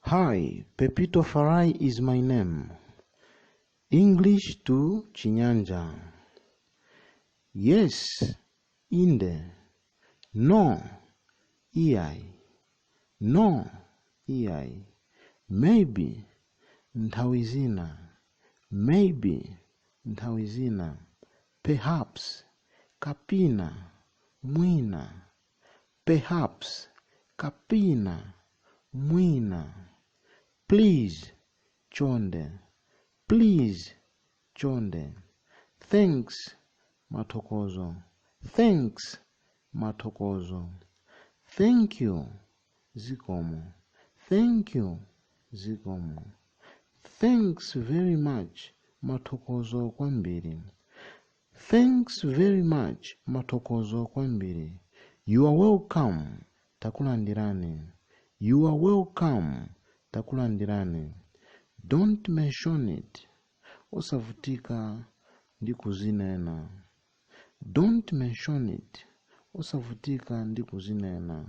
Hi, Pepito Farai is my name. English to Chinyanja. Yes, inde. No, iai. No, iai. Maybe, nthawi zina. Maybe, nthawi zina. Perhaps, kapina, mwina. Perhaps, Kapena, mwina. Please, Chonde. Please, Chonde. Thanks, Mathokozo. Thanks, Mathokozo. Thank you, Zikomo. Thank you, Zikomo. Thanks very much, Mathokozo kwambiri. Thanks very much, Mathokozo kwambiri. You are welcome, Takulandirani. You are welcome, Takulandirani. Don't mention it, Osavutika ndi kuzinena. Don't mention it, Osavutika ndi kuzinena.